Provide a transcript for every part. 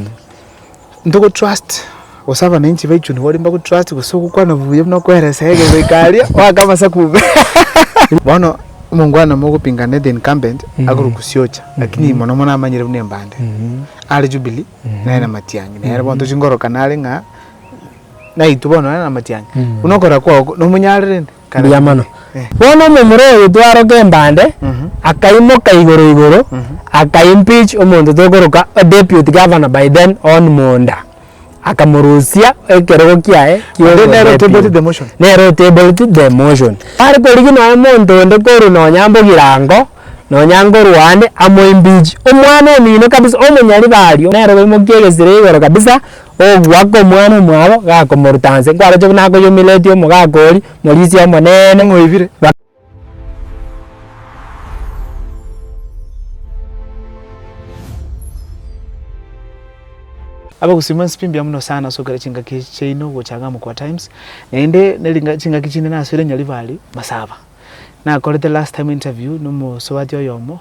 omonene. Ntogo trust gose abananchi baichwe nigo baria mbago trust gose ogokwana buya buna okoeresa iga goika aria oake amasaku buna bono omongwana mogopingana the incumbent agorwa kusiocha lakini mono mono amanyire buna embande are jubilee nere na matiangi nere bono tochi korokana are ng'a naitwe bono nere na matiangi buna okora kwao nomonyarire rende. Mbuya mono. Bono omomura oyo twaroka embande, akaimoka igoro igoro, aka impeach omonto tokoroka deputy governor by then Hon Munda, akamorusia ekerogo kiaye kia And then obwa nero o tabled deputy. the motion. Nero o tabled the motion. Tari korigia nonya omonto onde korwa nonya Mbogirango, nonya nkorwa ande, amo impeach. Omwana omino kabisa, omonyari baria, nere oimokia egesira igoro kabisa, Ogoaka omwana omwabo gakomoruta nse, nkwaroche buna akoyomiretie omogaka oria, morisia omonene ng'oibire. Abagusima nsipi mbuya muno sana ase ogokera chingaki echi chiaino gocha iga Amkua Times, naende nere chingaki chinde nasore nyaribari masaba. Nakorete last time interview na omosubati oyomo.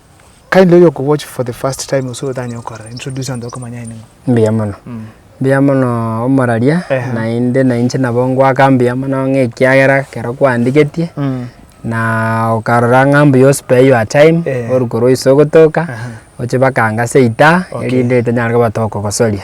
kindly oyo oko watch for the first time gose otanye gokorora introduce abanto bakomanye aye ning'o. Mbuya mono. Mbuya mono omoraria Ehe. naende na inche nabo ngoaka mbuya mono ng'a ekiagera ekero kwandigetie na okarora ng'a mbuya o spare your time Eh. orwe korwa iso ogotoka Aha. oche baka anga seita Okay. erinde etanyara koba tokogosoria.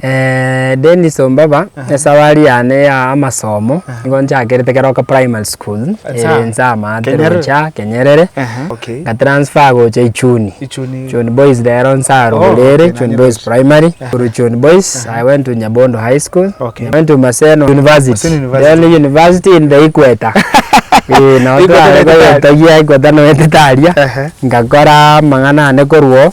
Dennis Ombaba, esafari yane ya amasomo nigo nchakerete ekero goka primary school ere ense amaate gocha Kenyerere, nga transfer gocha Ichuni, Ichuni boys rero inse arure ere, Ichuni boys primary, korwa Ichuni boys I went to Nyabondo high school, I went to Maseno university, then university in the equator eeh nabo twarenge goyetagia equator noetete aria, ngakora amang'ana ane korwa oo,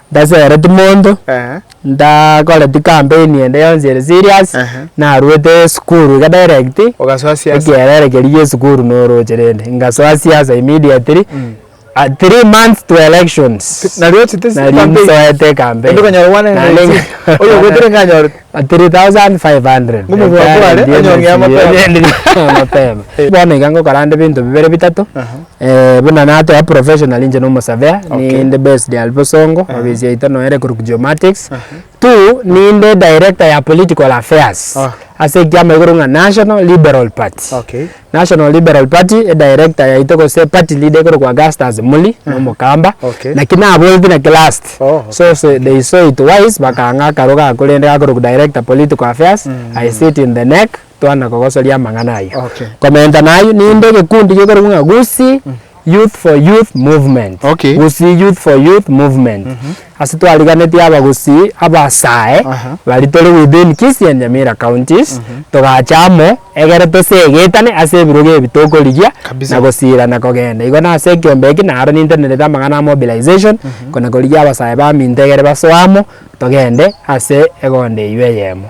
Ntasereti monto, ntakore ti campaign ende yonsi ere serious, narwete esukuru iga direct, ekerere keria gie esukuru noroche rende, ngasoa siasa immediately, three months to elections, naria nsoete ecampaign. Ba 3,500. Ng'omonto Enchara okware, eria onye ong'ea emechie mapema. eria eria ong'ea mapema. Bono iga ngokora ande ebinto bibere bitato, eh, buna natoa professional inche na omosurveyor, Okay. ninde based aria bosongo, ofisi yaito noyo ere korwa geomatics. Two, ninde director ya political affairs, Okay. ase ekiama igoro ng'a National Liberal Party. Okay. National Liberal Party, edirector yaito gose party leader ekorokwa Augustus Muli, na omokamba, Okay. naki naboreti naki last. Oh, okay. So so they saw it wise bakang'a akaro gakwo rende gakorokwa director political affairs, I sit in the neck, twana kogosoria amang'ana ayio. Okay. Komentana ayio, ninde egekundi gekorokwa ng'a Gusii, Youth for Youth Movement Okay. gusii Youth for Youth Movement. Ase twariganeti aba gusii abasae Aha. bari tore within Kisii and Nyamira counties togacha amo egere tosegetane ase ebirogo ebi tokorigia Kabisa. na gosiira na kogenda. Igo nase ekiombe eki naro nintenerete amang'ana a mobilization kona korigia abasae baminto egere basoe amo togende ase egondo eyio eyemo.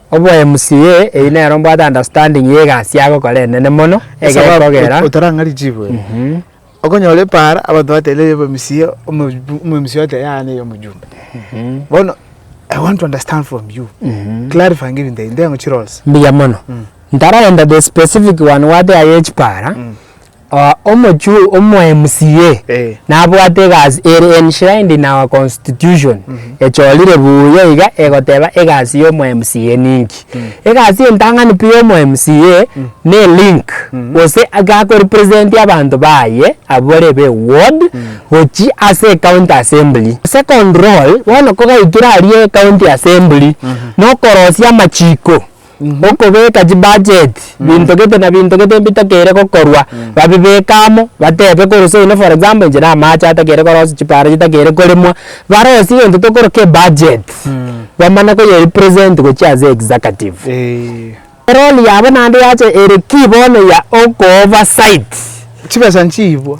Obo MCA eyi nero mbwate understanding ye egasi agokora enene mono egekogera. Otarang'ari chibuya. Okonyora epaara abanto bateba eye MCA omo MCA oteba yaya neye omojumbe. Bono I want to understand from you. Clarifying ebinto ebi ntengo chiroles. Mbuya mono. Ntaragenda the specific one gwate aye echipaara. Omochuu omo MCA nabwate egasi ere enshrined in our constitution echorire buuya iga egoteba egasi ya omo MCA ninki. Egasi entang'ani pi ya omo MCA ne link gose gako represent abanto baye abwo bare be ward gochia ase ecounty assembly. Second role bono kogaikire aria ecounty assembly nokorosia amachiko. Gokobeka chibudget binto gete na binto gete mbitakeire gokorwa babibeke amo batebe korose oino for example inche na amache atakeire korosia chipara chitakeire koremwa barosie egento tokoroka ebudget bamanye koyerepresent gochia ase executive erori yabo naende yacha ere key bono ya okooversight. Chibesa nchiibwa.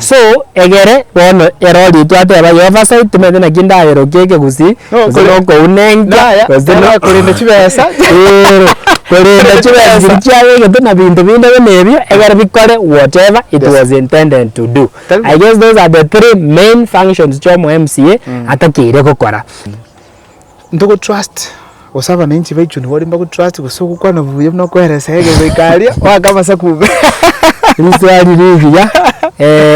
So egere bono erori twateba Yehova sai timanyete naki ndayerokia ekegusii gose nokounenkia gose no korenda chibesa eeh korenda chibesa chiria chiagegete na binto binde buna ebio egere bikore whatever it was intended to do. I guess those are the three main functions chia omo mca atokeire gokora. ntogotrust gose abananchi baichwe nigo mbagotrust gose ogokwana buya buna okoeresa egere goika aria oake amasaku bube Riswali rigiya,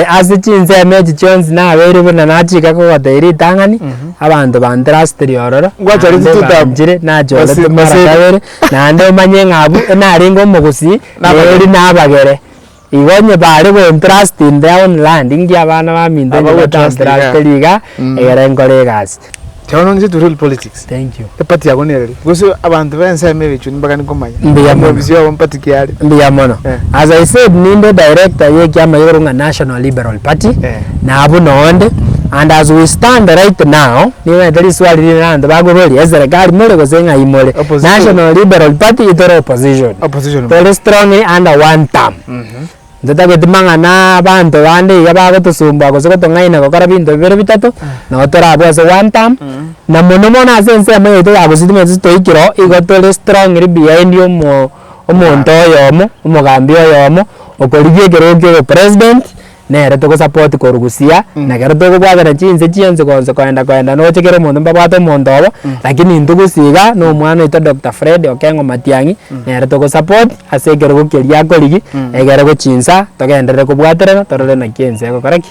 ase chinsemo echi chionsi nabeire buna nachika kogotebia ritang'ani, abanto bantrustire ororo, Ngocha naende rituko tabo. banchire nachorete Basi- mara basi- kabere, naende omanye ng'a abwo narenge omogusii, Nabagere. neri nabagere. Igo onye bare gointerest in their own land inki abana baminto inche batainterastere iga egere nkore egasi. Kero nonye to real politics Thank you. eparty yago nere ree? Gose abanto bensemo ebe chio nibagani komanya Mbuya mono. omobisi obo eparty ki are? Mbuya mono. Eh. As I said ninde director ye ekiama igoro ng'a National Liberal Party. Eh. na abwo noonde, and as we stand right now, nigo egento riswali rinene abanto bakoboria, eserekari more gose ng'ai more? Opposition. National Liberal Party itore opposition. Opposition more. Tore strongly under one term. Ntotageti mang'ana abanto bande iga bagotosumbua gose gotong'aina gokora binto bibere bitato, nabo tore abwo ase one term, na mono mono ase ensemo yaito ya Gusii timaeti gose toikire oo, igo tore strongly behind omo omonto oyomo, omogambi oyomo, okorigia ekerogo kia obopresident. nere togosupport korwa busia na ekero tokobwatana chinse chionsi gonsi koenda koenda nogochia kera omonto mbabwate omonto obo lakini intwe gose iga na omwana oito Doctor Fred Okengo Matiang'i nere togosupport ase ekerogo keria akorigia ekerego chinsa togenderere kobwaterana torore naki ense egokora ki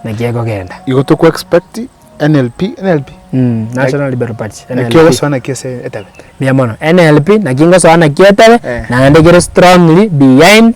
naki egogenda. Igo toko expect NLP NLP? Mh National Liberal Party NLP. Naki ogosoa naki ase etebe? Mbuya mono. NLP naki ngosoa naki etebe naende kere strongly behind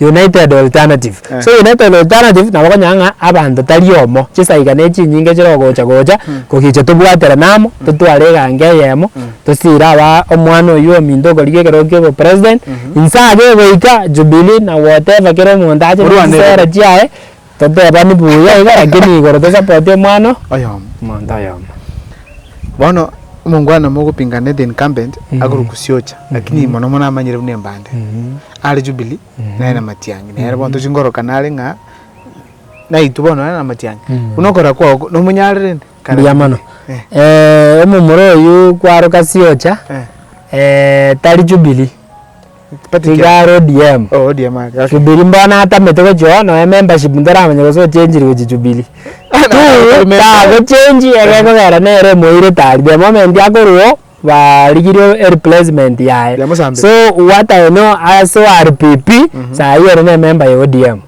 United Alternative. Eh. So United Alternative nabo okonyora ng'a abanto tari omo, chisaiga na echinyinge chire ogocha gocha kogicha tobwaterane amo, totware egango eyemo, tosiire abaa omwana oyio ominto okorigia ekerogo kia obopresident, inse abwo egoika Jubilee na whatever kera omonto ache na Orwane chisera chiaye. Toteebani buya iga lakini igoro tosapoti omwana Oyomo. omonto oyomo. Bono omongwana mogopinganete incumbent akorokwa siocha lakini mono mono amanyire buna embande are jubilee nere na matiangi nere bono tochingorokana are ng'a naitwe bono nere na matiangi buna okora kwao nomonyare rende kare Mbuya mono. jubilee Eh. Omomura oyio kwaroka siocha tari jubilee. Tiga are ODM. Oh, ODM ake. Okay. Jubilee mbono atamete gochia noe membership ntoramanya gose ochenchiri gochia Jubilee. Bana, Tu atari member. tagochenchi egekogera nere emoire tari the moment akorwao barigirie e replacement yaye. Ya Musambi. So what I know ase wari PP sahi ere ne member ya ODM.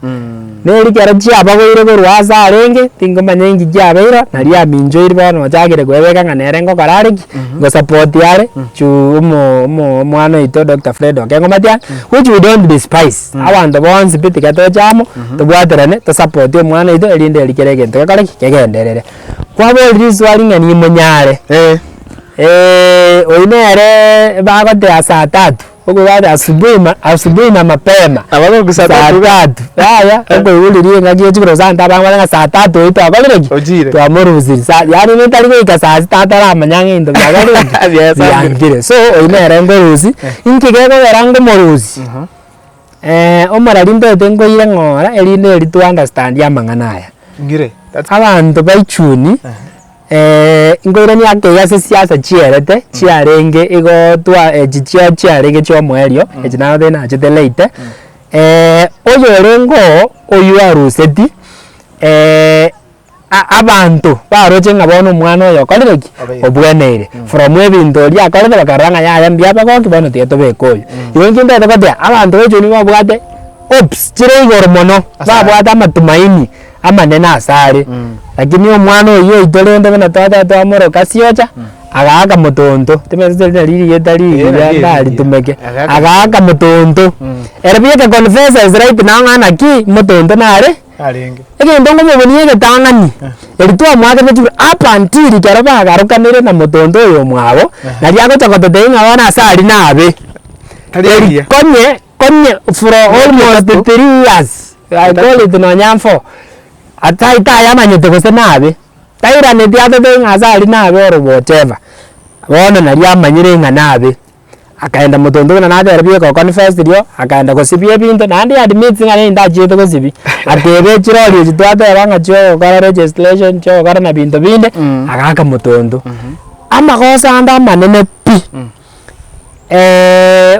Ne rikero chiabagoire korwa aase arenge, tingomanya inki kiabeirwe, na riaminchoiri bono ochagire kwebeka ng'a nere ngokora are ki, ngosupport are juu omo omo omwana oito Doctor Fred okeng'umati ang'e, which we don't despise, abanto bonsi pi tiga toche amo, tobwaterane, tosupport omwana oito erinde eri kere egento gekore ki, kegenderere. Kwaborire risuari ng'a nimonyare, oyio nere bagotea saa tatu, Okogenda asubuhi ma asubuhi na mapema. Abana ogo saa tatu iga. Saa tatu yaya okoiguriri engaki ya chikoro saa ntano abang'ana ng'a saa tatu eye twakorire ki? Ochire. Twamorusiri sa yaani nintari goika saa sita ataramanya ng'a into biakorire ki? Biaesangire. Biankire. So oyio nere nkorusia, inki gekogera nkomorusia? omora rintagete nkoira ng'ora erinde eri to understand amang'ana aya. Ngire. Abanto baichuni. nkoirania kei ase siasa chiarete chiarenge igo twa echi chia chiarenge chia omoerio echi nababire nachete late oyorenge oo oywo aruseti a- abanto baroche ng'a bono omwana oyo okorire ki? Obweneire from ebinto eria akorete bakarora ng'a yaya mbuya abagoki bono tiga tobeke oyo. Igo inche ntaete goteba abanto baichorwa nigo babwate hopes chire igoro mono, babwate amatumaini. amanene asare, lakini omwana oyio oito rende buna twachaka twamoroka siocha, agaaka motonto, timanyeti tori nari rigeta rigiya Eeh, nari erio rigiya. ndaritumeke, Agaaka agaaka motonto, ere pi eke confess as right now ng'a naki motonto nare, Narenge. egento ngomobonia egetang'ani, eri twamwakeretie ira up until ekero bagarokanire na motonto oyo omwabo, nari agocha gototebia ng'a bono ase aria nabe, Tari eria. konye Onye for almost three years akorete nonya nfo atai tayamanyete gose nabe tairaneti atotebe ng'a ase aria nabe ore whatever bono naria amanyire ng'a nabe akaenda motonto buna natera bie go confess rioo akaenda gosibia ebinto naende he admit ng'a nere ndachiete gosibia ateba echirori echi twateba ng'a chia ogokora registration chia ogokora na binto binde agaka motonto. Amagoso ande amanene pi.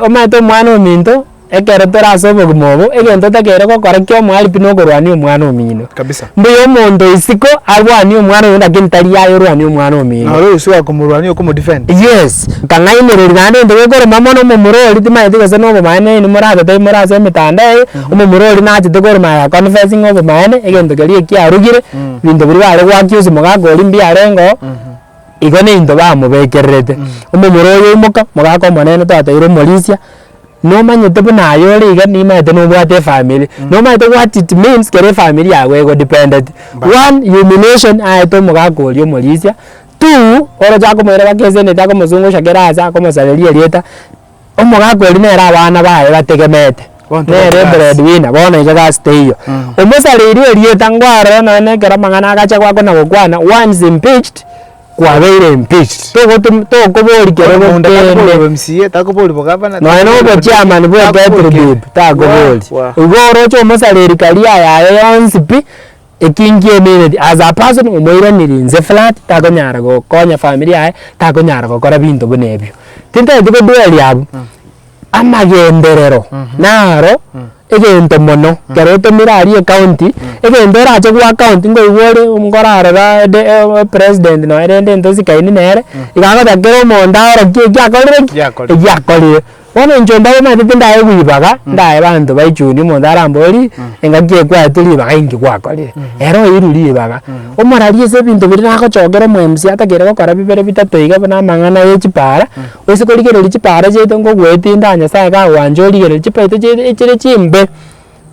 omanyete omwana ominto, ekero tore ase obogima obo, egento otakeire gokora kia omoabi pi nokorwania omwana omino. Kabisa. Mbuya omonto isiko arwanie omwana oino lakini tari yaya orwanie omwana omino. Naro oyo siko akomorwania okomo defend. Yes, nkang'ainereria naende ntwe gekorema mono omomura oria timanyeti gose na obomaene oini morabete aimore ase emetandao eye, omomura oria nachete korema aye aconfessinge obomaene egento keria ekiarugire, binto biria bare goaccuse mogaka oria mbiarengo, Igo neinto bamobekererete, omomura oyo oimoka, mogaka omonene twateire omorisia, nomanyete buna aye ore iga nimanyete nobwate efamiri, nomanyete what it means kero efamiri yago egodependeti. One, humiliation aete omogaka oria omorisia, two, oroche akomoira baka esendi ete akomosungusha kera aase akomosareria erieta. Omogaka oria nere abana baye bategemete, nere ebread winner bono iga egasi teiyo. Omosareiri erieta ngwarore nonya na ekero amang'ana agacha goaka na gokwana once impeached kwabeire impeached. Togotum tokobori kere gokende. Nonya na obochairman bwa eketribib takobori. Igo oroche omosareri career yaye yonsi pi. Etinki emereti as a person omoiraneria inse flat takonyara gokonya family yaye takonyara gokora binto buna ebio. Tintagete kodweria abwo amagenderero naro egento mono ekero otomire aria ecounty egento orache goa county nkoigwa ore nkorarora ede president nonya rende intwe nsikaine nere iga agocha kera omonto aorokie ekiakorire ki? Ekiakorire. Bono inche ombaye omanyete ndaye ribaga, ndaye abanto baichuni omonto arambori engaki ekwete ribaga inki gwakorire, ere oirwe ribaga, omorarie ase ebinto biria nagochokera omo mca atakeire gokora bibere bitato iga buna amang'ana ye chipara, oise korigereria chipara chiaito ngogoetinda aa nyasaye kagwancha origereria chipaito chiaito echire chimbe.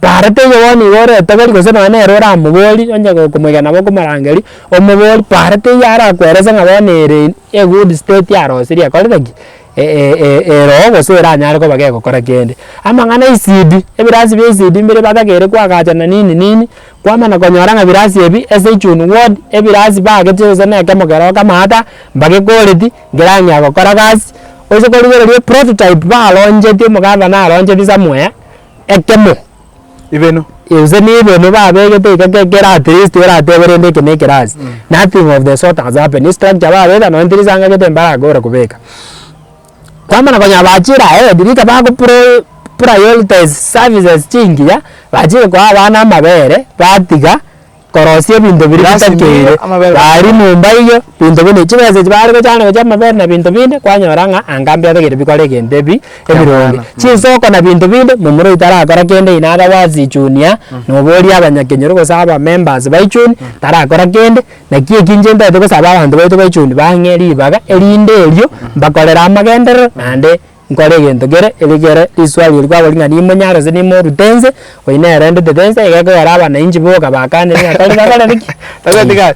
Tareti onye bono iga oretogori gose nonye nere oramogori onye okomoiga nabo okomorangeria, omogori pareti eyio arakwerese ng'a bono ere in a good state arosirie ekorire ki eroo gose eranyare koba gegokora kende. Amang'ana isidi, ebirasi bia esidi mbire batagete koagacha na nini nini, kwamana konyora ng'a ebirasi ebi ase echuni ward, ebirasi baagete gose na ekemo keroo kamaata, mbagekoreti nkerang'ea gokora gasi, gose korigereria eprototype baroncheti omogavana aroncheti somewhere. Ekemo, Ebeno. Gose na ebeno babegete iga ge kera at least oratebe rende eke na eke rase. Nothing of the sort has happened. Ase structure babeta nonye tiri ase ang'agete mbarakobora kobeka. Kwamana konya bachire ahead rika bago pro prioritize services chingiya, bachire koa abana amabere batiga korosia ebinto biria Glass bitakeire, nigo amabere gakobaa. gari nyomba eyio, binto binde, chibesa echio bare gochanga gochia amabere na binto binde, kwanyora ng'a anga mbiatagete bikore egento ebi ebironge. Kiamano, mm. Chinsoko na binto binde, momura oito tarakora kende oyio naro abe ase ejunior, noboria abanyakenyoro gose abamembers ba ejuni, tarakora kende, naki eki inche ntaete gosaba abanto baito ba ejuni bang'e ribaga, erinde erio mbakorere amagenderero naende. Nkore egento kere, eri kere riswali eri kwabori ng'a nimonyare gose nimorute nse, oyio nere arendetete nse, iga ekogera abanainchi boka bakanire ng'a tari bakareti ki? Tari bakareti kaye.